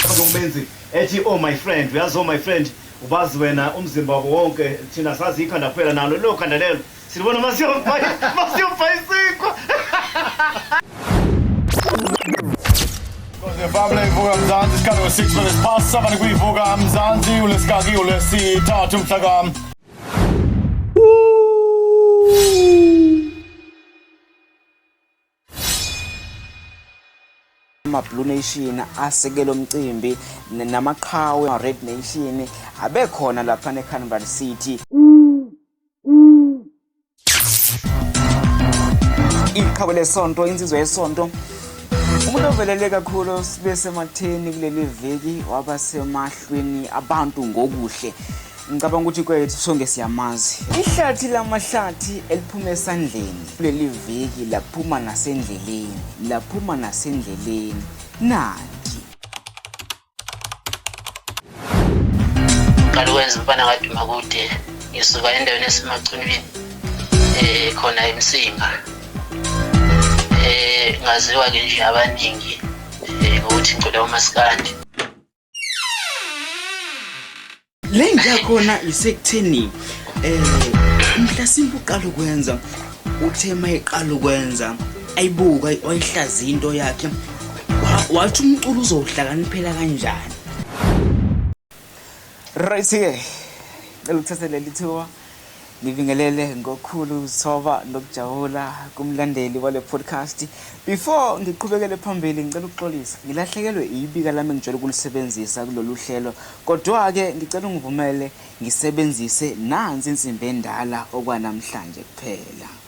Ngokumenzi ethi oh my friend uyazi oh my friend ubazi wena umzimba wabo wonke thina sazi ikhanda kuphela nalo lelo khanda lelo silibona masiyobhayisikwa Babla ivuka mzansi isikhathi we-6 minutes past 7 kuyivuka mzansi ulesikakiyo lesithathu mhlakam ama-blue nation asekela umcimbi namaqhawe ama-red nation abekhona laphana ecanberra city iqhabo lesonto insizwa yesonto umuntu ovelele kakhulu sibe sematheni kuleli viki waba semahlweni abantu ngokuhle ngicabanga ukuthi kwethu sonke siyamazi ihlathi lamahlathi eliphuma esandleni kuleli viki laphuma nasendleleni laphuma nasendleleni nani Ngaqala ukwenza umfana kaduma kude ngisuka endaweni esemacunwini eh khona emsinga eh ngaziwa ke nje abaningi eh ukuthi ngicela umaskandi Le nja khona isekutheni eh mhlasimbe uqala ukwenza uthe mayiqala ukwenza ayibuka wayihlaza into yakhe Wa- wathi umculo uzowuhlakaniphela kanjani Right-ke. Cela ukuthathe leli thuba. Ngibingelele ngokukhulu ukuzithoba nokujabula kumlandeli wale podcast. Before ngiqhubekele phambili ngicela ukuxolisa. Ngilahlekelwe ibika lami engijwayele ukulisebenzisa kulolu hlelo. Kodwa-ke ngicela ungivumele ngisebenzise nansi insimbi endala okwanamhlanje kuphela.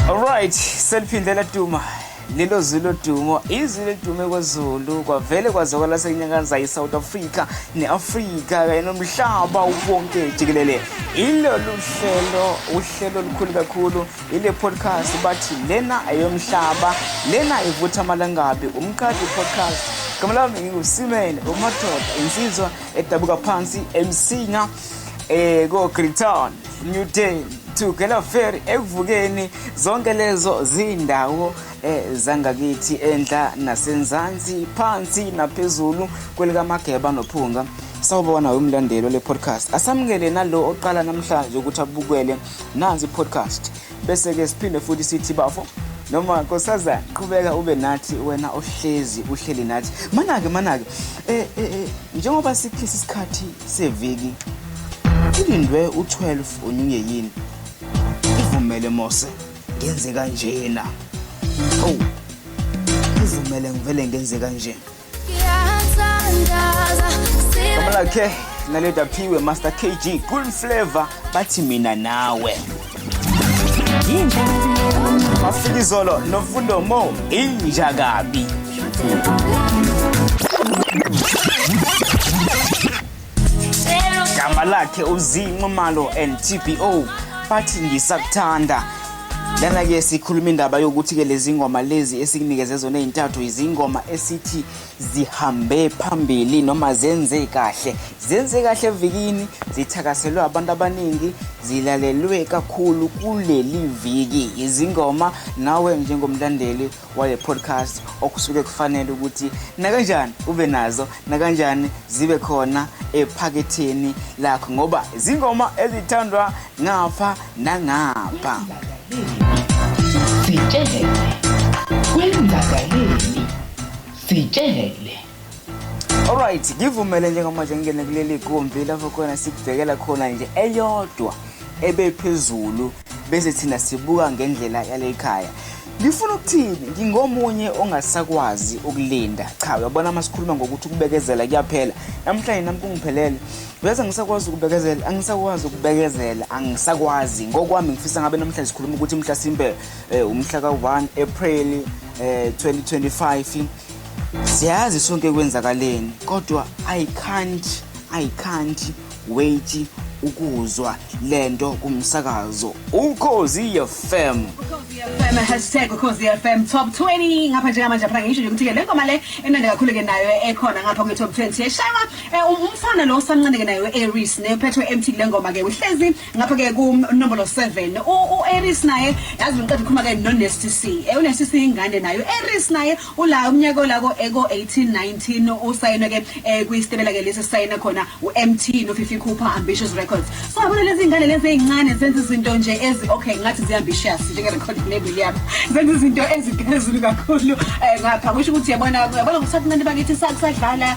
Alright, seliphinde la Duma. lelo zwi lodumo izwi lodume kwezulu kwavele kwazwakala senyakaza i-south africa ne-afrika kanye nomhlaba wonke jikelele ilolu hlelo uhlelo olukhulu kakhulu ile podcast bathi lena eyomhlaba lena ivutha amalangabi umqadi podcast gama lami ngingusimele umadoda insizwa edabuka phansi emsinga um eh, ko-grigtown New Day to Kelaferi ekuvukeni zonke lezo zindawo eh, zangakithi enhla nasenzansi phansi naphezulu kwelikamageba nophunga sawubona wemlandelo le podcast asamukele nalo oqala namhlanje ukuthi abukele nazi podcast bese ke siphinde futhi sithi bafo noma kosaza qhubeka ube nathi wena ohlezi uhleli nathi manake manake eh, eh, eh njengoba sikhisa isikhathi seviki kulindwe u-12 onyunyeyini ivumele mose ngenze kanjena oh ivumele ngivele ngenze kanje Kamala K naleda phiwe Master KG Cool Flavor bathi mina nawe Mafikizolo nofundo mo inja kabi. Gama lakhe uzinxumalo and TPO bathi ngisakuthanda. Lana ke sikhuluma indaba yokuthi ke lezi ngoma lezi esikunikeze zona ezintathu izingoma esithi zihambe phambili noma zenze kahle zenze kahle evikini zithakaselwe abantu abaningi zilalelwe kakhulu kuleli viki izingoma nawe njengomlandeli wale podcast okusuke kufanele ukuthi nakanjani ube nazo nakanjani zibe khona ephaketheni lakho ngoba izingoma ezithandwa ngapha nangapha sitshele kwenzakaleni sitshele Alright, ngivumele njengamanje ngingene kuleli gumbi lapho khona sikubhekela khona nje eyodwa ebephezulu bese thina sibuka ngendlela yalekhaya. Ngifuna ukuthini? Ngingomunye ongasakwazi ukulinda. Cha, uyabona masikhuluma ngokuthi ukubekezela kuyaphela. Namhlanje nami kungiphelele. Uyazi angisakwazi ukubekezela, angisakwazi ukubekezela, angisakwazi. Ngokwami ngifisa ngabe namhla sikhuluma ukuthi mhla simbe eh, umhla ka-1 April eh, 2025 siyazi sonke kwenzakaleni kodwa i can't i can't wait ukuzwa lento kumsakazo ukhozi FM hashtag ukhozi FM top 20 ngapha njengamanje phela ngisho nje ukuthi-ke le ngoma le emnandi kakhulu-ke nayo ekhona ngapha kwi-top 20 eshaywa Eh, um- umfana lo usamncane ke naye u-aries ne uphethwe empty kule ngoma ke uhlezi ngapha ke kunombolo 7 u-aries naye yazi ngiqeda ukukhuluma ke no-nasty c um u-nasty c ingane naye u-aries naye ula umnyaka ola ko-18 19 usayinwe ke um kwisitebela ke lesi sisayine khona u-mt nofifi cooper ambitious records so yabona lezi iy'ngane lezi ey'ncane zenza izinto nje ezi okay ngathi zi-ambitious njenge-record label yabo zenza izinto eziphezulu kakhulu um ngapha kusho ukuthi yabona yabona ngokuthatha abantu bakithi sa- kusadlala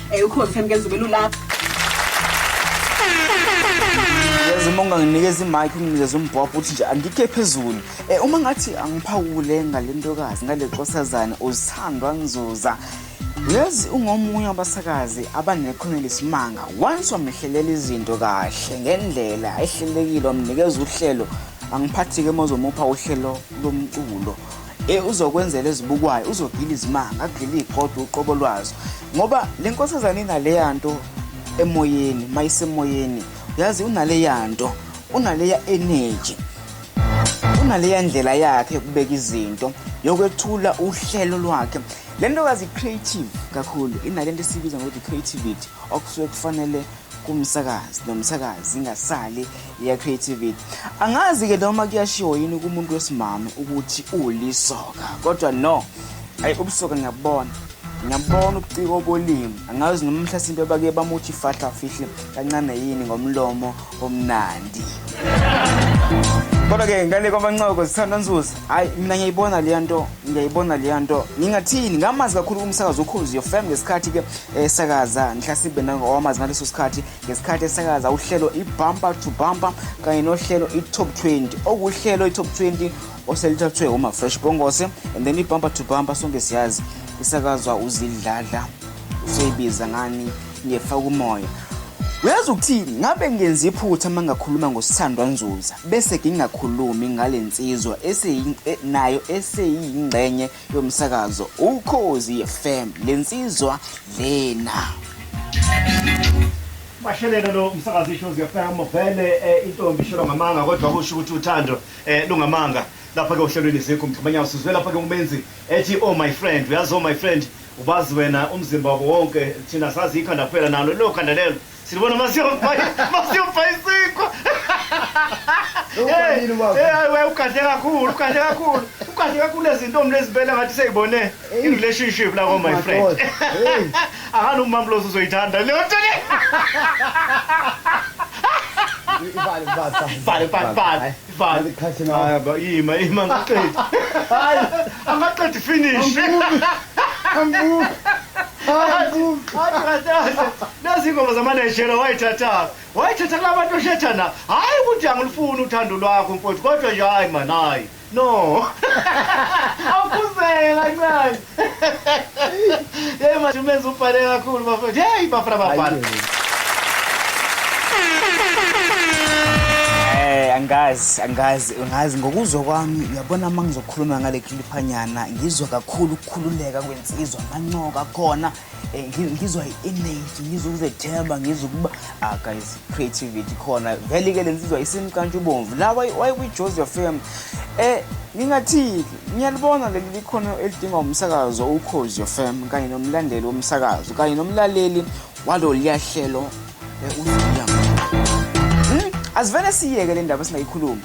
Eh ukhozi Thembi kenza ubelu lapha. Yazi uma unganginikeza i-mic unginikeza umbhobho uthi nje andikhe phezulu. Eh uma ngathi angiphawule ngalentokazi ngale nkosazana uzithandwa ngizuza. Yazi ungomunye wabasakazi abanekhono lesimanga. Once wamehlelela izinto kahle ngendlela ehlelekile wamnikeza uhlelo angiphathi-ke mozomupha uhlelo lomculo Eh uzokwenzela ezibukwayo uzogila izimanga agile igodwa uqobo lwazo ngoba lenkosazane inaleya nto emoyeni mayisemoyeni yazi unaleya nto unaleya energy unaleya ndlela yakhe yokubeka izinto yokwethula uhlelo lwakhe le ntokazi creative kakhulu inale nto esiyibiza ngokuthi creativity okusuke kufanele kumsakazi nomsakazi ingasali ya creativity angazi ke noma kuyashiwo yini kumuntu wesimame ukuthi ulisoka kodwa no ayi ubusoka ngiyabona ngiyabona ubuciko obolimi angazi noma mhlasimpe abake bamuthi fahla fihle kancane yini ngomlomo omnandi kodwa ke ngale kwabancoko sithanda nzuza hayi mina ngiyayibona leya nto ngiyayibona leya nto ngingathini ngamazi kakhulu kumsakazi ukhozi yofam ngesikhathi ke esakaza nhlasibe nangowamazi ngaleso sikhathi ngesikhathi esakaza uhlelo ibumper to bumper kanye nohlelo i-top 20 okuhlelo i-top 20 oselithathwe umafresh bongose and then ibumper to bumper sonke siyazi isakazwa uzidladla useyibiza ngani ngefa kumoya uyazi ukuthini ngabe ngenza iphutha uma ngakhuluma ngosithandwa nzuza bese ngingakhulumi ngale nsizwa e, nayo eseyingxenye yomsakazo ukhozi FM lensizwa lena bashelele lo msakazi isho ziyafema vele eh, intombi ishelwa ngamanga kodwa kusho ukuthi uthando eh, lungamanga lapha ke uhlelweni zikho mgxibanyana sizwe lapha ke umenzi ethi oh my friend uyazi oh my friend ubazi wena umzimba wabo wonke thina sazi ikhanda kuphela nalo lelo khanda lelo Silibona masiyobhayi masiyobhayisikwa. Ubalile ubaba. Eh hayi wena ugadle kakhulu ugadle kakhulu. Ugadle kakhulu lezintombi lezibele ngathi seyibone in relationship la ko my friend. Madoda, hey. Akani umamloso uzoyithanda leyo nto le. Ibale, ibale, Bhale bhale bhale. Bali. Khathi ngawo. Hayi ba yima yima ngaqedi. Hayi angaqedi finish. Angu. Angu. Hayi kadaze. Nazi ingoma zama Nigeria wayithatha. Wayithatha labantu oshethana. Hayi ukuthi angilifuni uthando lwakho mfowethu kodwa nje hayi man hayi. No. Awukhuzela ncane. Yey manje umenzi ubhale kakhulu bafethu. Hey bafana bafana. Eh angazi angazi angazi ngokuzwa kwami uyabona uma ngizokhuluma ngale cliphanyana ngizwa kakhulu ukukhululeka kwensizwa amancoka khona Eh, ngi- ngizwa i-energy ngizwa ukuzethemba ngizwa ukuba ah guys creativity khona vele ke le nsizwa isimkantsha ubomvu la wayi- wayikwi-jozi fm um ngingathini ngiyalibona leli likhono elidingwa umsakazo ukhozi fm kanye nomlandeli womsakazo kanye nomlaleli waloluya hlelo eh, uZuya. Hmm? asivele siyeke le ndaba singayikhulumi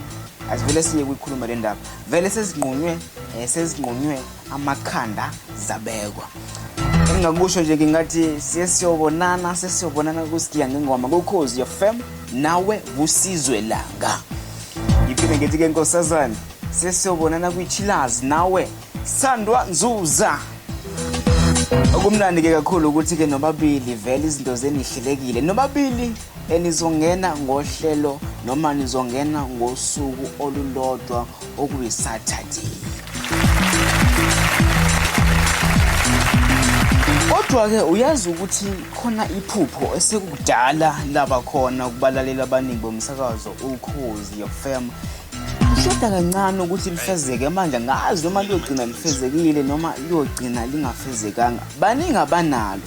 asivele siye kuyikhuluma le ndaba vele sezinqunywe um sezinqunywe amakhanda zabekwa engingakusho nje ngingathi sesiyobonana sesiyobonana kusigiya ngengoma kukhozi yofem nawe kusizwe langa ngiphinde ngithi-ke nkosazane sesiyobonana kwichilazi nawe sandwa nzuza okumnandi-ke kakhulu ukuthi-ke nobabili vele izinto zenihlelekile nobabili enizongena ngohlelo noma nizongena ngosuku olulodwa okuyisaturday kodwa-ke uyazi ukuthi khona iphupho esekudala laba khona ukubalaleli abaningi bomsakazo ukhozi yofm kushoda kancane ukuthi lifezeke manje ngazi noma liyogcina lifezekile noma liyogcina lingafezekanga baningi abanalo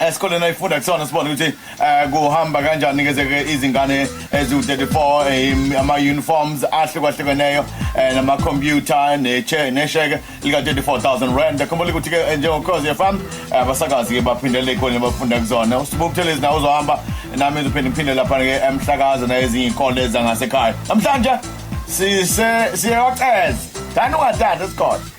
esikoleni ayifunda kusona sibone ukuthi um kuhamba kanjani ngezeke izingane eziwu-34 eh, ama-uniforms ahlukahlukeneyo um namakhompyutha nesheke lika-34000 rand khumbula ukuthi-ke eh, njengokhozi yefam abasakazi-ke baphindele ey'koleni abafunda kuzona usibukuthelezi nawo uzohamba nami ngizophinde ngiphinde lapha-ke emhlakaza nayezinye iy'kole zangasekhaya namhlanje siyewaceza thani ungathatha esikhona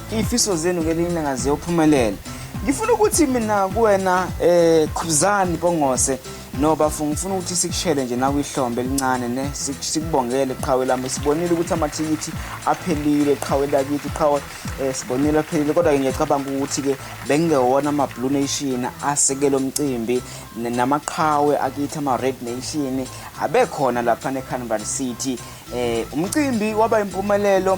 Iy'fiso zenu ngelinye ilanga ziyophumelela. Ngifuna ukuthi mina kuwena eh Khuzani Bongose no bafo ngifuna ukuthi sikushele nje nakwihlombe elincane ne sikubongele qhawe lami sibonile ukuthi amathikithi aphelile qhawe lakithi qhawe eh, sibonile aphelile kodwa-ke ngiyacabanga ukuthi-ke bengewona ama-blue nation asekele umcimbi namaqhawe akithi ama-red nation abekhona lapha ne-canval city Eh umcimbi waba impumelelo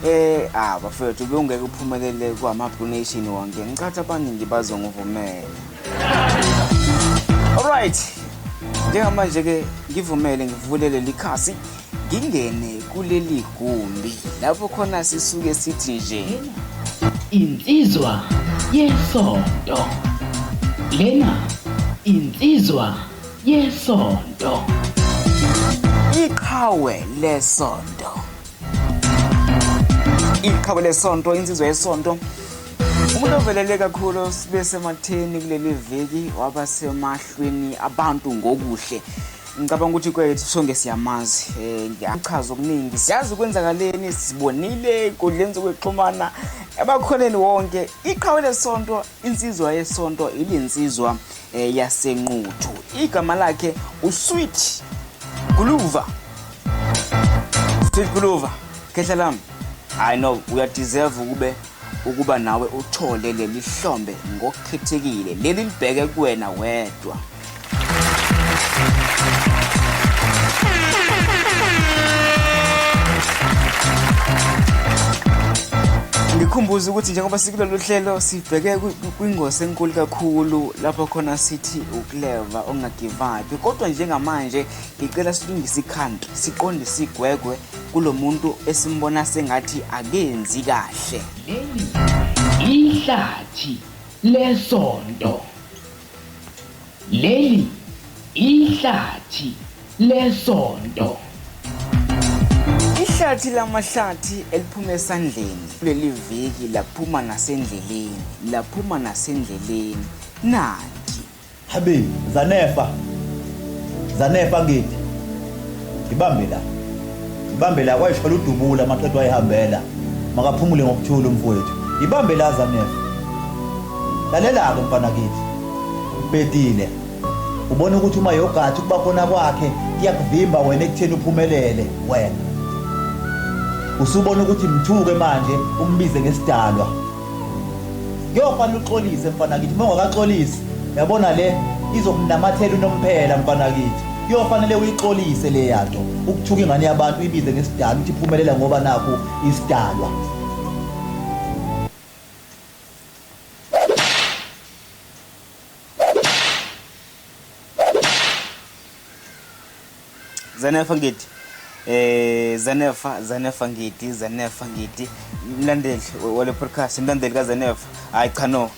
eh ah bafethu bewungeke uphumelele kwama Blue Nation wonke ngicathi abaningi bazongivumela Alright njengamanje ke ngivumele ngivule leli khasi ngingene kuleli gumbi lapho khona sisuke sithi nje insizwa yesonto lena insizwa yesonto. Iqhawe lesonto. Iqhawe lesonto insizwa yesonto. Umuntu ovelele kakhulu sibe sematheni kuleli viki waba semahlweni abantu ngokuhle. Ngicabanga ukuthi kwethu sonke siyamazi eh ngiyachaza okuningi siyazi ukwenzakaleni sibonile inkundleni zokuxhumana abakholeni wonke iqhawe lesonto insizwa yesonto ilinsizwa eh, yasenquthu igama lakhe usweet guluva sweet guluva khehla lami hayi no uyadeserve ukube ukuba nawe uthole leli hlombe ngokukhethekile leli libheke kuwena wedwa ngikhumbuza ukuthi njengoba sikulolu hlelo sibheke Kwingozi enkulu kakhulu lapho khona sithi ukleva ongagivapi kodwa njengamanje ngicela silungise ikhanda siqonde sigwegwe kulo muntu esimbona sengathi akenzi kahle leli ihlathi lesonto Leli ihlathi lesonto. Ihlathi lamahlathi eliphuma esandleni kuleli viki laphuma nasendleleni, laphuma nasendleleni. Nanti. Habe, Zanefa. Zanefa ngithi. Ngibambe la. Ibambe la kwayisho ludubula amaqedo ayihambela. Makaphumule ngokuthula umfowethu. Ibambe la Zanef. Lalela-ke mfana kithi. Ubhedile. Ubona ukuthi uma yogathi ukuba khona kwakhe kuyakuvimba wena ekutheni uphumelele wena. Usubona ukuthi mthuke manje umbize ngesidalwa. Kuyofana uxolise mfanakithi uma ungakaxolisi yabona le izomnamathela unomphela mfanakithi kuyofanele uyixolise le yanto ukuthuka ingane yabantu uyibize ngesidalwa ukuthi iphumelela ngoba nakho isidalwa Zanefa ngidi eh Zanefa Zanefa ngidi Zanefa ngidi mlandeli wale podcast mlandeli ka Zanefa hayi cha no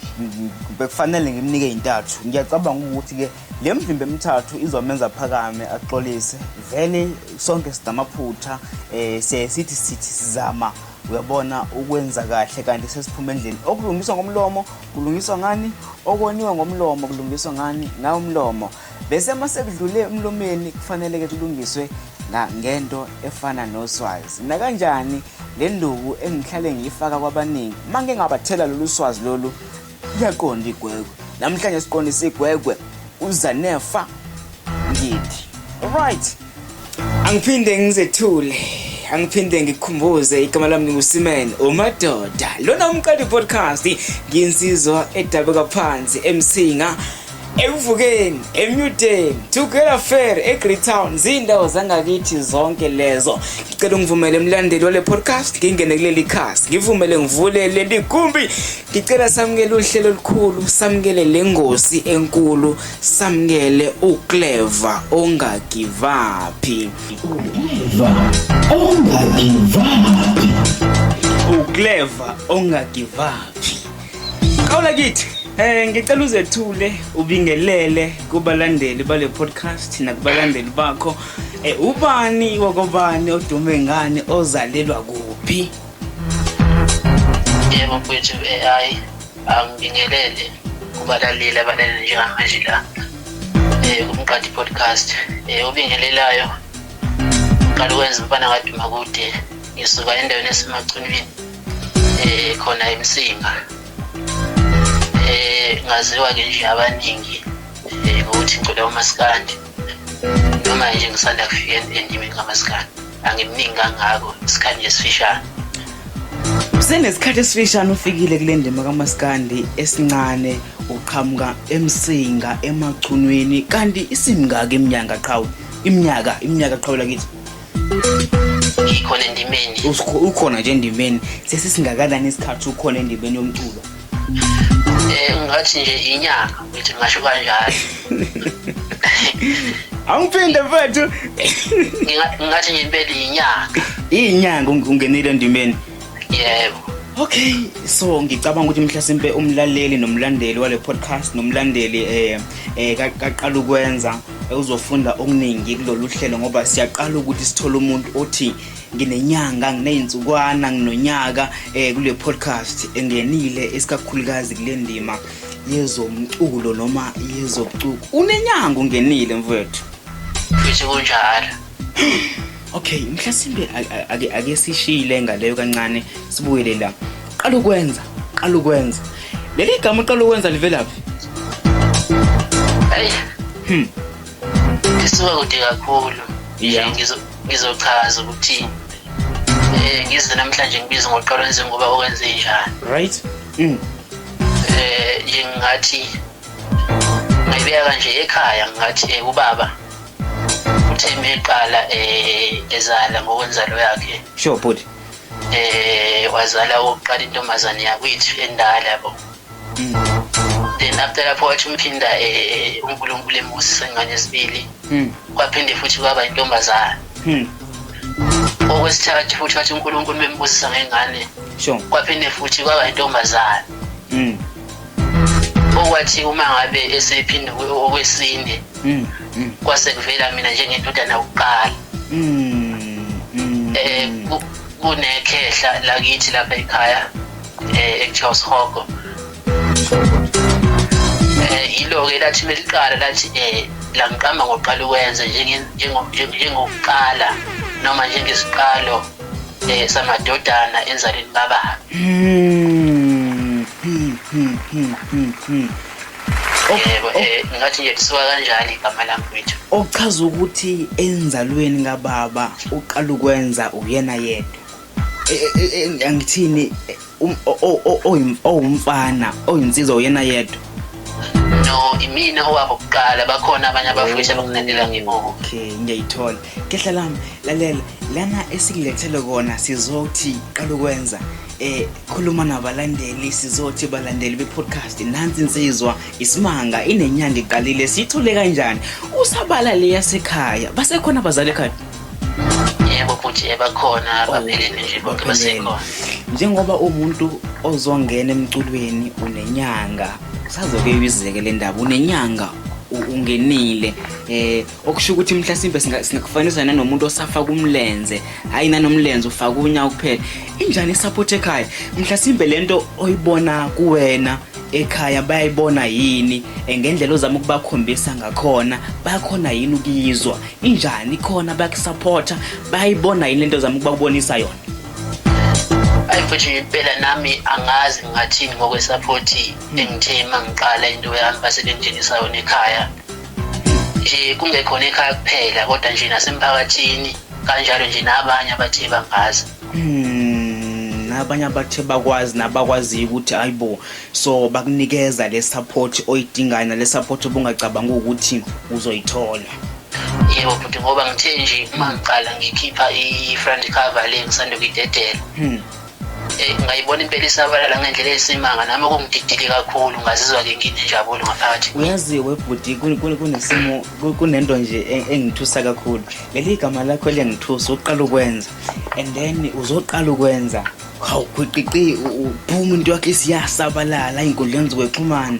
bekufanele ngimnike intathu ngiyacabanga ukuthi ke le mvimbe emithathu izomenza phakame axolise vele sonke sidamaphutha eh siye sithi sithi sizama uyabona ukwenza kahle kanti sesiphuma endlini okulungiswa ngomlomo kulungiswa ngani okoniwe ngomlomo kulungiswa ngani ngawumlomo Bese uma sekudlule emlomeni kufanele-ke kulungiswe ngento efana noswazi nakanjani le nduku engihlale ngiyifaka kwabaningi uma ngike ngabathela lolu swazi lolu kuyaqonda igwegwe namhlanje siqondisa igwegwe uzanefa ngidi right angiphinde ngizethule angiphinde ngikhumbuze igama lami ngusimene umadoda lona umqali podcast nginsizwa edabuka phansi emsinga ekuvukeni emnyudeni tugela fair egreytown ziindawo zangakithi zonke lezo ngicela ungivumele emlandeli wale podcast ngingene kuleli khasi ngivumele ngivule leli gumbi ngicela samukele uhlelo olukhulu samukele le ngosi enkulu samkele uclever ongagivaphi uclever ongagivaphi uclever ongagivaphi qawula kithi Eh ngicela uzethule ubingelele kubalandeli bale podcast nakubalandeli bakho eh ubani wakobani odume ngani ozalelwa kuphi yebo mfethu AI angibingelele kubalaleli abalalele njengamanje la um kumqadi podcast um obingelelayo uqala ukwenza umfana kaduma kude ngisuka endaweni esemacunwini um khona emsinga um ngaziwa-ke nje abaningi um ngokuthi ngicula umasikandi noma nje ngisanda kufika endimeni kamasikana angimningi kangako isikhathi nje sifishane senesikhathi esifishane ufikile kule ndima kamasikandi esincane uqhamuka emsinga emachunwini kanti isimngaka iminyanga qhawe iminyaka iminyaka qhawela kithi ngikhona endimeni ukhona nje endimeni sesisingakanani isikhathi ukhona endimeni yomculo Eh, ngathi nje inyanga ngithi ngasho kanjalo angiphinde mfethu ngathi nje impela inyanga inyanga ungenile endimeni yebo okay so ngicabanga ukuthi mhlasimpe umlaleli nomlandeli wale podcast nomlandeli eh, eh kaqala ukwenza uzofunda okuningi kulolu hlelo ngoba siyaqala ukuthi sithole umuntu othi nginenyanga nginey'nsukwana nginonyaka um kule podcast engenile esikakhulukazi kule ndima yezomculo noma yezobucuku unenyanga ungenile mfowethu ngithi kunjalo okay mhlasimbe ake sishile ngaleyo kancane sibuyele la qala ukwenza qala ukwenza leli gama uqala ukwenza livelaphi eyi hmm. lisuka kude kakhulu yeah. ngizochaza ukuthi eh ngize namhlanje ngibize ngoqalo njengoba okwenze njani right mm. eh nje ngathi ngayibeka kanje ekhaya ngathi eh, ubaba uthe meqala eh ezala ngokwenzalo yakhe sure bhuti eh wazala ukuqala intombazane yakwethu endala yabo then after lapho wathi umphinda eh, unkulunkulu emusa ingane esibili hmm. kwaphinde futhi kwaba intombazane hmm. okwesithathu futhi wathi unkulunkulu bembusisa ngengane kwaphinde futhi kwaba intombazane hmm. okwathi uma ngabe esephinde okwesine kwase kuvela mina njengendodana kuqala um kunekhehla lakithi lapha ekhaya eh ekuthiwa usihogo eh yilo-ke lathi meliqala lathi eh langiqamba ngokuqala ukwenza njengokuqala noma njengesiqalo eh samadodana enzalweni baba hmm, hmm, hmm, yebo eh ngathi nje lisuka kanjani igama lami kwethu okuchaza ukuthi enzalweni kababa uqala ukwenza uyena yedwa angithini owumfana oyinsizwa uyena yedwa no imina owabo kuqala bakhona abanye abafundisi abakunendela ngimo okay ngiyayithola kehla lami lalela lana esikulethele kona sizothi qala ukwenza eh khuluma nabalandeli sizothi balandeli be-podcast nansi insizwa isimanga inenyanga iqalile siyithole kanjani usabala leyasekhaya basekhona abazali ekhaya yebo futhi ebakhona abaphelele nje bonke basekhona njengoba umuntu ozongena emculweni unenyanga usazoke uyizeke le ndaba unenyanga ungenile eh okusho ukuthi mhlasimbe singakufanisa nanomuntu osafa kumlenze hayi nanomlenze ufaka unya kuphela injani isupport ekhaya mhlasimbe lento oyibona kuwena ekhaya bayayibona yini eh, ngendlela ozama ukubakhombisa ngakhona bayakhona yini ukuyizwa Injani khona bakusupporta bayibona yini lento zama ukubabonisa yona. Ayi futhi impela nami angazi ngathini ngokwesupport engithe mangiqala into yami basebengitshengisa yona ekhaya. Nje kungekhona ekhaya kuphela kodwa nje nasemphakathini kanjalo nje nabanye abathe bangazi. Hmm. abanye abathe bakwazi nabakwaziyo ukuthi ayibo so bakunikeza le support oyidingayo nale support obungacabanga ukuthi uzoyithola yebo bhuti ngoba ngithe nje uma ngiqala ngikhipha i-front cover le ngisanda kuyidedela hmm. Eh, ngayibona impela isabalala ngendlela eyisimanga nami okungididile kakhulu ngazizwa-ke nginenjabulo ngaphakathi uyazi webhuti kunesimo kunento nje e-, engithusa kakhulu leli gama lakho eliyangithusa uqala ukwenza and then uzoqala ukwenza hawu khwiqiqi uphuma into yakhe isiyasabalala ey'nkundleni zokwexhumana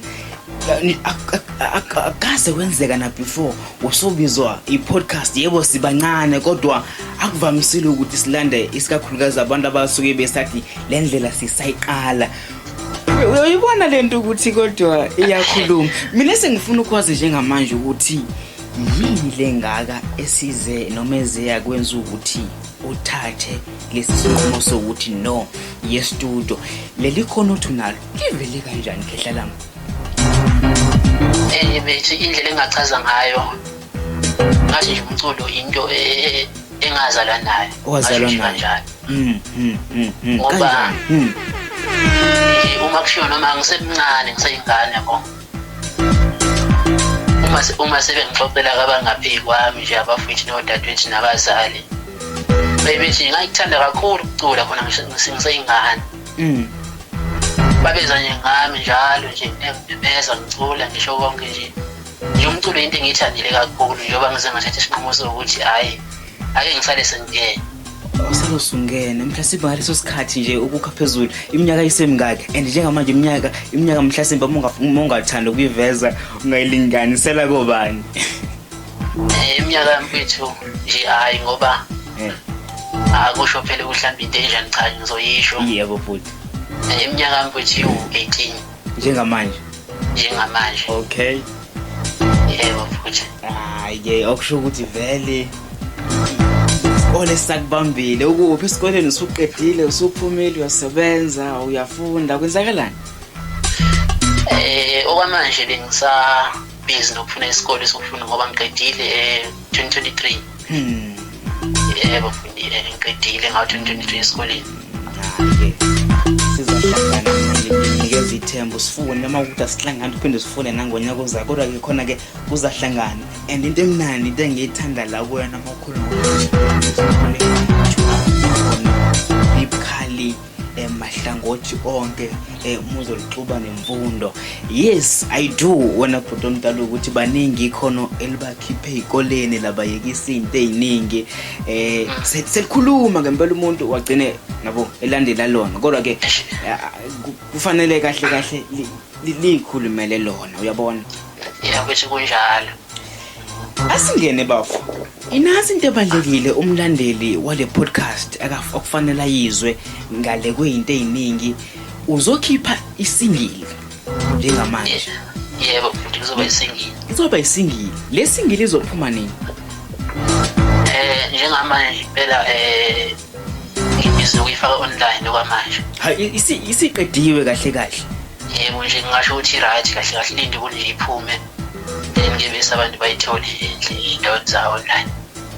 Yani, ak- ak- ak- akaze kwenzeka na before usubizwa i-podcast yebo sibancane kodwa akuvamisile ukuthi silande isikakhulukazi abantu abasuke besathi le ndlela sisayiqala Uy- uyayibona le nto ukuthi kodwa iyakhuluma mina sengifuna ukwazi njengamanje ukuthi yini le ngaka esize noma ezeya kwenza ukuthi uthathe lesi sinqumo sokuthi no yestudio leli khona othi unalo livele kanjani khehla lami eh bethi indlela engachaza ngayo ngathi nje umculo into e, e, engazalwa nayo owazalwa nayo kanjani mm, mm, mm, mm. ngoba mm. Eh, uma kushiwo noma ngisemncane ngiseyingane yabo uma uma sebengixoxela kabangaphi kwami nje abafowethu nodadewethu nabazali bebethi ngayithanda kakhulu ukucula khona ngiseyingane mm. babeza nje ngami njalo nje beza ngicula ngisho konke nje nje umculo into engiyithandile kakhulu njengoba ngize ngathatha isinqumo sokuthi hhayi ake ngisale sengingena usalo sungene mhlasimbe ngaleso sikhathi nje ukukha phezulu iminyaka isemingaki and njengamanje iminyaka iminyaka mhlasimbe uma ungathanda ukuyiveza ungayilinganisela kobani eh, iminyaka yamfethu nje hhayi ngoba eh. akusho ah, phela ukuhlamba into enjani cha ngizoyisho yebo futhi eh, iminyaka yamfethu iwu-eighteen njengamanje njengamanje okay yebo futhi hayi ke okusho ukuthi vele isikole sakubambile ukuphi esikoleni usuqedile usuphumile uyasebenza uyafunda kwenzakalani eh okwamanje bengisa busy nokufuna isikole sokufunda ngoba ngiqedile eh 2023 hmm yebo ngifundile ngiqedile ngawo 2023 esikoleni sizohlangana manje nginikeza ithembu sifune noma ukuthi asihlangani uphinde sifune nangonyaka ozayo kodwa-ke khona-ke kuzahlangana and into emnandi into engiyithanda la kuyona makhulu emahlangothi onke eh, muzolixuba nemfundo yes i do wena bhuti omdala ukuthi baningi ikhono elibakhiphe ey'koleni labayekisa iy'nto ey'ningi eh se- selikhuluma ngempela umuntu wagcine nabo elandela lona kodwa-ke eh, ku- kufanele kahle kahle li- li- liyikhulumele lona uyabona ya ukuthi kunjalo asingene bafo inasi into ebalulekile umlandeli wale podcast akaf- okufanele ayizwe ngale kweyinto eziningi uzokhipha isingili njengamanje yebo bhuti kuzoba yisingile izoba isingili le singili izophuma nini eh njengamanje phela eh ngibhizi ukuyifaka online okwamanje ha i- isi- isiqediwe kahle kahle yebo nje ngingasho ukuthi right kahle kahle lindi kunje iphume Ngebisa abantu bayithole endle endaweni zawo online.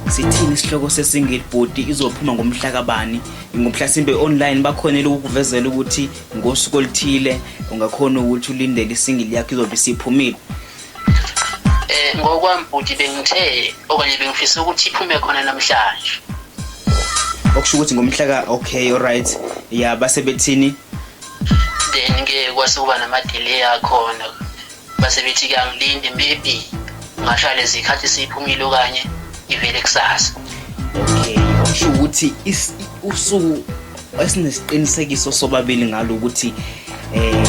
Sithini isihloko sesingili bhuti izophuma ngomhla kabani? Ngomhlasimbe online bakhonela ukukuvezela ukuthi ngosuku oluthile ungakhona ukuthi ulindele isingili yakho izobe isiphumile. Eh ngokwami bhuti bengithe okanye bengifisa ukuthi iphume khona namhlanje. Okusho ukuthi ngomhla ka okay alright ya basebethini then ke kwase kuba namadelay akhona base bethi kuyangilinde maybe ngashaya lezikhathi siphumile okanye ivele kusasa okay usho ukuthi usuku esinesiqinisekiso sobabili ngalo ukuthi eh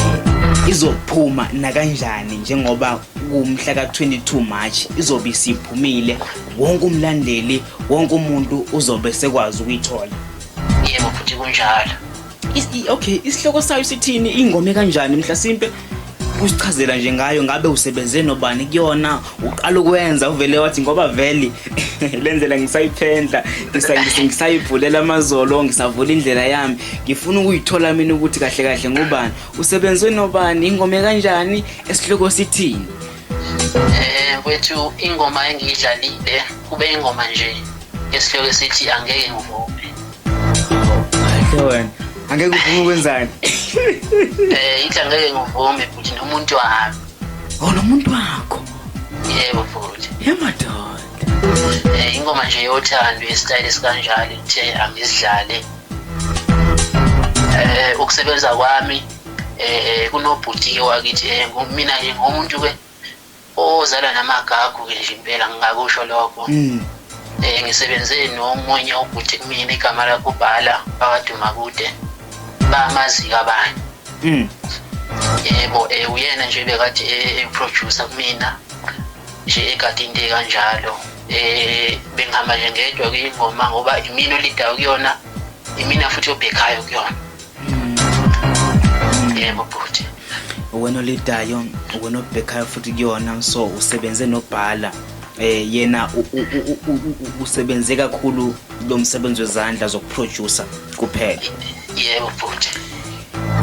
izophuma nakanjani njengoba kumhla ka-22 March izobe isiphumile wonke umlandeli wonke umuntu uzobe sekwazi ukuyithola yebo futhi kunjalo okay isihloko sayo sithini ingome kanjani mhlasimpe usichazela nje ngayo ngabe usebenze nobani kuyona uqala ukwenza uvele wathi ngoba vele lendlela ngisayiphendla ngisayibhulela amazolo ngisavula indlela yami ngifuna ukuyithola mina ukuthi kahle kahle ngubani usebenze nobani ingome kanjani esihloko sithini eh kwethu ingoma engiyidlalile kube ingoma nje esihloko sithi angeke ngivume Kahle wena. Angeke uvume ukwenzani? Eh, ithi angeke ngivume futhi nomuntu wami. Oh, nomuntu wakho. Yebo futhi. Yemadoda. Eh, ingoma nje yothando yesitayile sikanjalo ithe angizidlale. Eh, ukusebenza kwami eh kunobhuti wakithi eh mina nje ngomuntu ke ozalwa namagagu ke nje impela ngingakusho lokho mm. eh ngisebenze nomunye ubhuti kumina igama lakho ubhala bakaduma kude bamazi kabani mm. yebo eh uyena nje bekade eh, eproducer kumina nje ekade into kanjalo eh bengihamba nje ngedwa kuyingoma ngoba imina olidayo kuyona imina futhi obhekhayo kuyona yebo bhuti uwena olidayo uwena obhekhayo futhi kuyona so usebenze nobhala eh yena usebenze kakhulu lo msebenzi wezandla zokuproducer kuphela yebo bhuti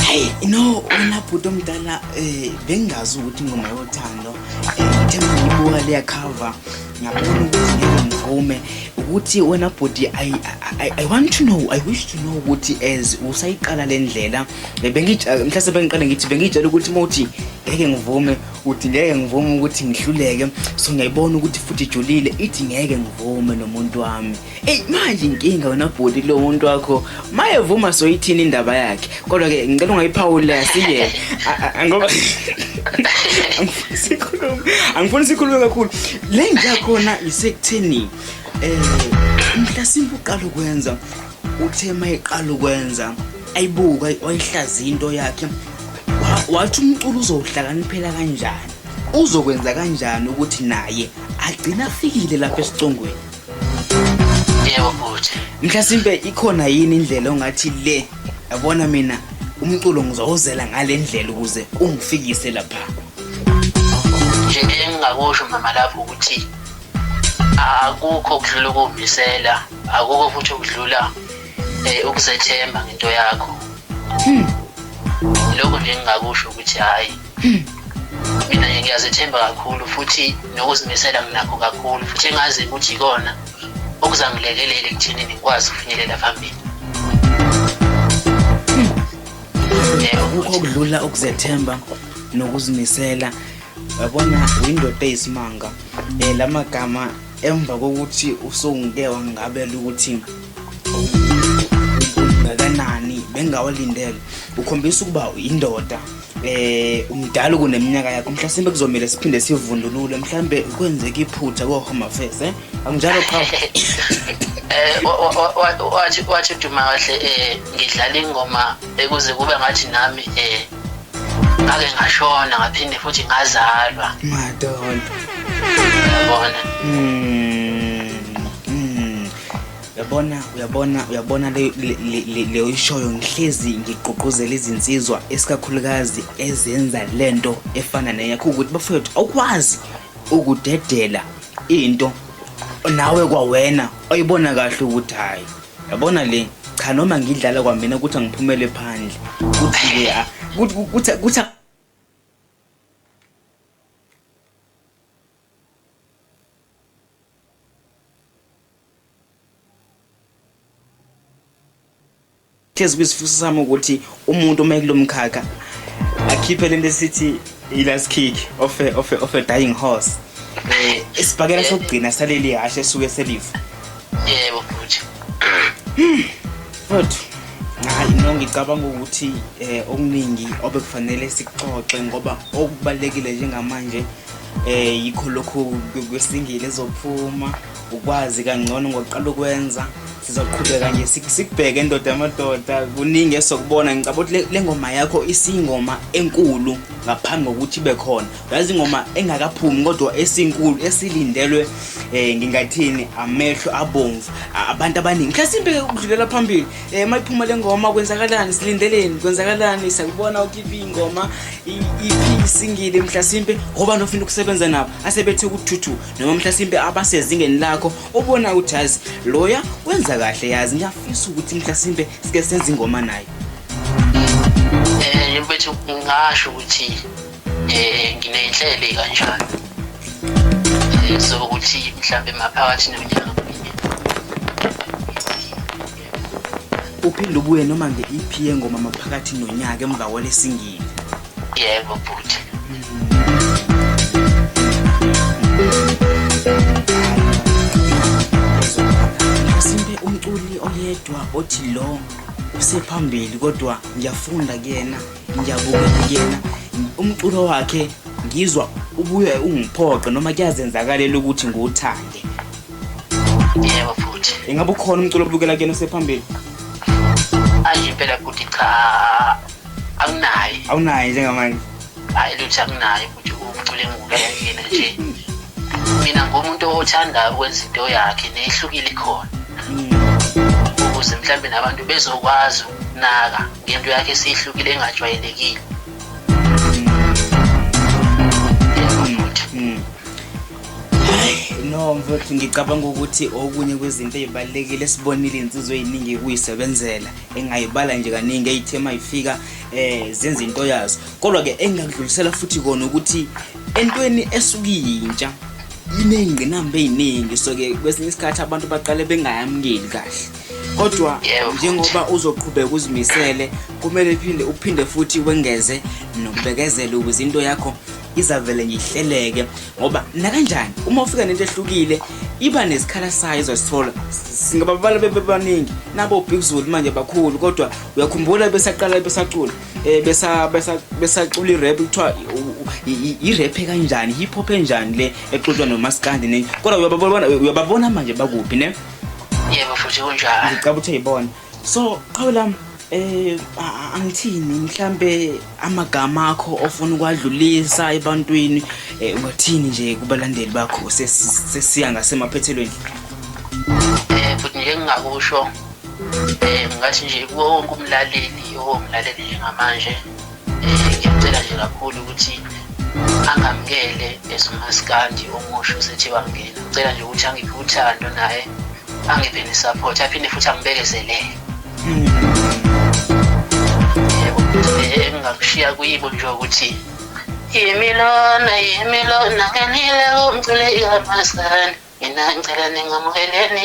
hey no wena bhuti omdala eh bengazi ukuthi ingoma yothando eh, ngithe ngiyibuka leya cover ngiyabona ukuthi ngeke ngivume ukuthi wena bhuti I, I, i want to know i wish to know ukuthi as usayiqala le ndlela mhlase bengiqale ngithi bengiyitshela ukuthi uma uthi ngeke ngivume uthi ngeke ngivume ukuthi ngihluleke so ngiyayibona ukuthi futhi ijulile ithi ngeke ngivume nomuntu wami Eyi manje inkinga wena bhuti kulo muntu wakho mayevuma soyithini indaba yakhe kodwa ke ngicela ungayiphawula siyeke ngoba angifuni sikhulume kakhulu le ngiya khona isekutheni um mhlasimpe uqala ukwenza uthe ma iqala ukwenza ayibuka wayihlaza into yakhe wathi umculo uzowuhlakaniphela kanjani uzokwenza kanjani ukuthi naye agcina afikile lapha esicongweni yebo bhuti mhlasimpe ikhona yini indlela ongathi le yabona mina umculo ngizowuzela ngale ndlela ukuze ungifikise lapha nje engingakusho mama lapho ukuthi akukho okudlula ukumisela akukho futhi okudlula eh ukuzethemba ngento yakho hmm. lokho nje engingakusho ukuthi hayi mina nje ngiyazethemba kakhulu futhi nokuzimisela nginakho kakhulu futhi engazi ukuthi ikona okuzangilekelele ekutheni ngikwazi ukufinyelela phambili akukho okudlula ukuzethemba nokuzimisela yabona uyindoda eyisimanga um la magama emva kokuthi usungike wangabela ukuthi bengakanani bengawalindele ukhombisa ukuba uyindoda eh umdala kuneminyaka yakho mhlasimbe kuzomele siphinde sivundulule mhlambe kwenzeka iphutha ko home affairs eh anginjalo qha eh wathi wathi duma kahle eh ngidlala ingoma ekuze kube ngathi nami eh ngake ngashona ngaphinde futhi ngazalwa madodana yabona mm uyabona uyabona uyabona leyo ishoyo ngihlezi ngigqugquzela izinsizwa esikakhulukazi ezenza le nto efana neyakho ukuthi bafowethu awukwazi ukudedela into nawe kwawena oyibona kahle ukuthi hhayi yabona le cha noma ngidlala kwamina ukuthi angiphumele phandle kuthi-ke kuthi Thes kwisifuso sami ukuthi umuntu uma ekulomkhakha akhiphe lento esithi ilast kick of a, of a, of a dying horse eh isibhakela sokugcina saleli hashe suke selifa yebo futhi futhi hayi no ngicabanga ukuthi eh okuningi obekufanele sikuxoxe ngoba okubalekile njengamanje eh yikho lokho kwesingile ezophuma ukwazi kangcono ngokuqala ukwenza sizoqhubeka nje sikubheke ndoda amadoda kuningi esokubona ngicabanga ukuthi le ngoma yakho isingoma enkulu ngaphambi kokuthi ibe khona uyazi ingoma engakaphumi kodwa esinkulu esilindelwe um ngingathini amehlo abomvu abantu abaningi mhlasimpe ukudlulela phambili um eh, uma iphuma le ngoma kwenzakalani silindeleni kwenzakalani sakubona ukuthi iphi ingoma iphi isingile mhlasimpe ngoba nofuna ukusebenza nabo asebethi ukuthuthu noma mhlasimpe abasezingeni lakho obona ukuthi yazi loya wenza kahle yazi ngiyafisa ukuthi mhlasimpe sike senze ingoma naye um bethu ngingasho ukuthi um eh, nginey'nhlele kanjalo um eh, sokuthi mhlawumbe maphakathi nonyaka uphinde ubuye noma nge-ep yengoma maphakathi nonyaka emva kwalesingile yebo bhuti simpe umculi oyedwa othi lo usephambili kodwa ngiyafunda kuyena Ngiyabukela kuyena umculo wakhe ngizwa ubuye ungiphoqe noma kuyazenzakalela ukuthi ngiwuthande. Yebo futhi. Ingabe ukhona umculo obukela kuyena osephambili? Ayi impela futhi cha anginayi. Awunayi njengamanje. Hayi lutho anginayi ukuthi umculo engibukela kuyena nje. Mina ngumuntu othanda ukwenza into yakhe nehlukile khona. Hmm. Ukuze mhlawumbe nabantu bezokwazi Naka ngento yakhe sihlukile engajwayelekile. no mfowethu ngicabanga ukuthi okunye kwezinto ezibalulekile sibonile insizwe eziningi kuyisebenzela engayibala nje kaningi eyithema ifika eh zenza into yazo kodwa ke engakudlulisela futhi kona ukuthi entweni esukuyintsha inengqinamba eziningi so ke kwesinye isikhathi abantu baqale bengayamukeli kahle kodwa Yebo. njengoba uzoqhubeka uzimisele kumele uphinde uphinde futhi wengeze nokubekezela ukuze into yakho izavele nje ihleleke ngoba nakanjani uma ufika nento ehlukile iba nesikhala sayo izosithola singababala bebebaningi nabo big zulu manje bakhulu kodwa uyakhumbula besaqala besacula eh, besa- besa- besacula irap kuthiwa irap kanjani hip hop enjani le exutshwa nomaskandi ne kodwa uyababona uyababona manje bakuphi ne yebo futhi kunjalo ngicaba ukuthi uyibona so qhawe lami eh angithini mhlambe amagama akho ofuna ukwadlulisa ebantwini eh, ungathini nje kubalandeli bakho sesiya ngasemaphethelweni eh futhi nje ngingakusho eh ngathi nje kuwo wonke umlaleli owomlaleli njengamanje ngiyacela nje kakhulu ukuthi angamukele as umaskandi omusha usethi bamngena ngicela nje ukuthi angiphe uthando naye angiphe ne-support aphinde futhi angibekezelele engingakushiya kuyibo nje ukuthi yimilona yimilona ngenile kumcule ikamasani mina ngicela ningamukeleni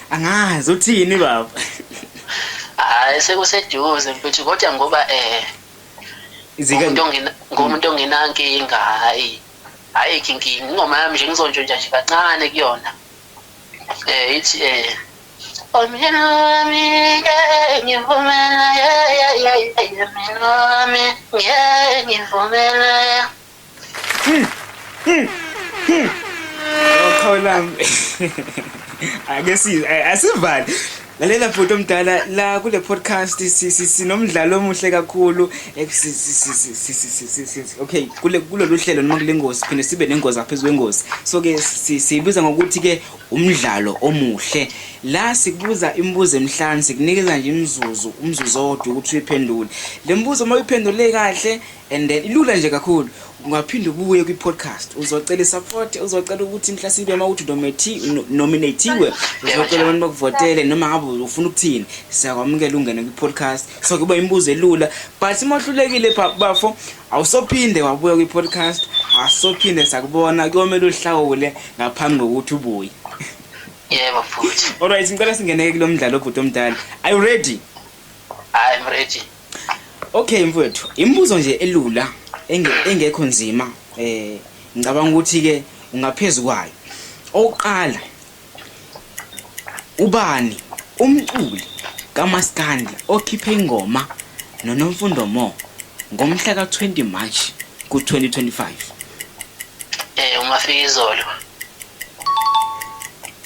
angazi uthini baba hayi sekuseduze mfethu kodwa ngoba eh ngomuntu ongenankinga hayi hayi kinkinga ingoma yami nje ngizontsho nje kancane kuyona eh ithi eh Omyeni wami ngeke ngivumela yeah yeah yeah yeah mina wami ngeke ngivumela yeah Oqhawelami. Ake si asivali. Lalela bhuti omdala la kule podcast sinomdlalo omuhle kakhulu okay kule kulolu hlelo noma kule ngozi phinde sibe nengozi aphezu kwengozi so ke siyibiza ngokuthi ke umdlalo omuhle la sikubuza imibuzo emihlanu sikunikeza nje imizuzu umzuzu owodwa ukuthi uyiphendule le mbuzo uma uyiphendule kahle And then ilula nje kakhulu ungaphinde ubuye kwi podcast uzocela support uzocela ukuthi mhlasibe uma uthi dometi nominatiwe uzocela abantu bakuvotele noma ngabe ufuna ukuthini siyakwamukela ungene kwi podcast so kuba imibuzo elula but uma uhlulekile bafo awusophinde wabuya kwi podcast asophinde sakubona kuyomela uhlawule ngaphambi kokuthi ubuye yebo futhi alright ngicela singene kulomdlalo obhuti omdala are you ready i'm ready Okay mfowethu, imibuzo nje elula engekho nzima eh ngicabanga ukuthi ke ungaphezulu kwayo. Oqala ubani umculi kaMaskandi okhiphe ingoma noNomfundo Mo ngomhla ka-20 March ku-2025. Eh uMafikizolo.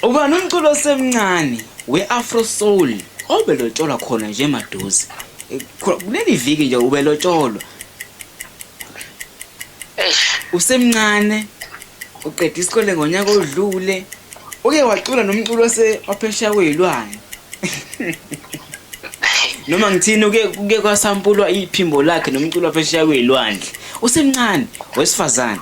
Ubani umculo osemncane we-afro soul obelotsholwa khona nje maduze Eh, kho- kuleli viki nje ubelotsholwa eish usemncane uqeda isikole ngonyaka odlule uke wacula nomculo ose- waphesheya kweyilwane noma ngithini uke kuke kwasampulwa iphimbo lakhe nomculo waphesheya kweyilwandle usemncane wesifazane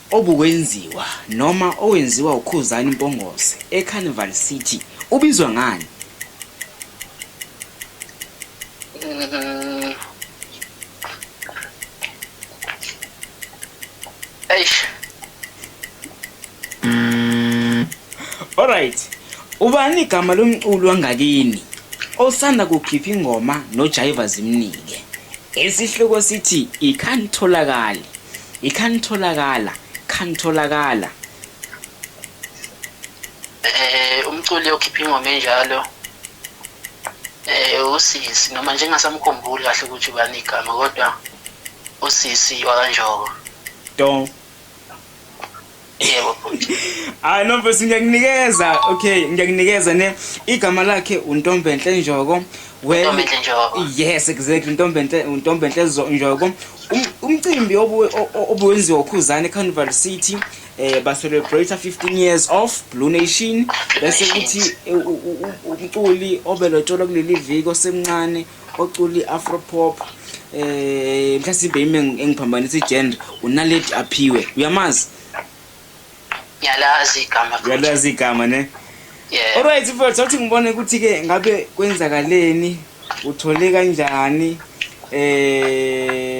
Obukwenziwa noma owenziwa uKhuzani Mpongose eCarnival City ubizwa ngani? Eish. Alright. Ubani igama lomculi wangakini osanda kukhipha ingoma noJaiva Zimnike? Isihloko sithi ikhanitholakali. ikhanitholakala khanitholakala eh umculi okhipha ingoma enjalo eh usisi noma nje ngasamkhumbuli kahle ukuthi ubani igama kodwa usisi wakanjoko don yebo hayi no mfethu ngiyakunikeza okay ngiyakunikeza ne igama lakhe untombenhle njoko Ntombenhle Njoko. Yes exactly Ntombenhle Ntombenhle Njoko. Um, umcimbi obuwenziwa uKhuzani Carnival City eh ba celebrate 15 years of Blue Nation bese kuthi umculi obelotsholwa kuleli viki osemncane oculi afropop eh mhlasimbe ime engiphambanisa igender unaledi aphiwe uyamazi ngiyalazi igama uyalazi igama ne yeah alright mfowethu awuthi ngibone ukuthi ke ngabe kwenzakaleni uthole kanjani eh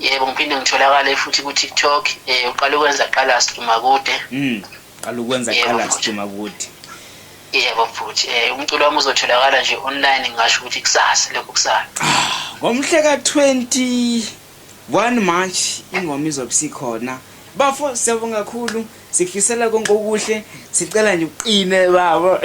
yebo ngiphinde ngitholakale futhi ku-tiktok um uqale ukwenza qala siduma kude mm, qala ukwenza qala siduma kude yebo futhi um eh, umculo wami uzotholakala nje online ngingasho ukuthi kusasa lokho kusala ah, ngomhle ka-21 march ingoma izobe sikhona bafo siyabonga kakhulu Sikufisela konke okuhle sicela nje uqine baba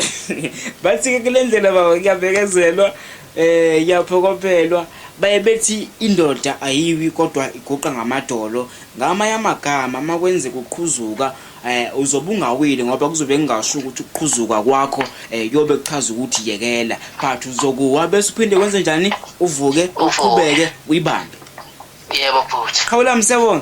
bathi-ke kule ndlela baba kuyabekezelwa eh yaphokophelwa baye bethi indoda ayiwi kodwa iguqa ngamadolo ngamanye amagama uma kwenzeka uqhuzuka eh uzobe ungawile ngoba kuzobe kungasho ukuthi ukuqhuzuka kwakho eh yobe kuchaza ukuthi yekela but uzokuwa bese uphinde wenze njani uvuke uqhubeke uyibambe yebo bhuti khawula msebona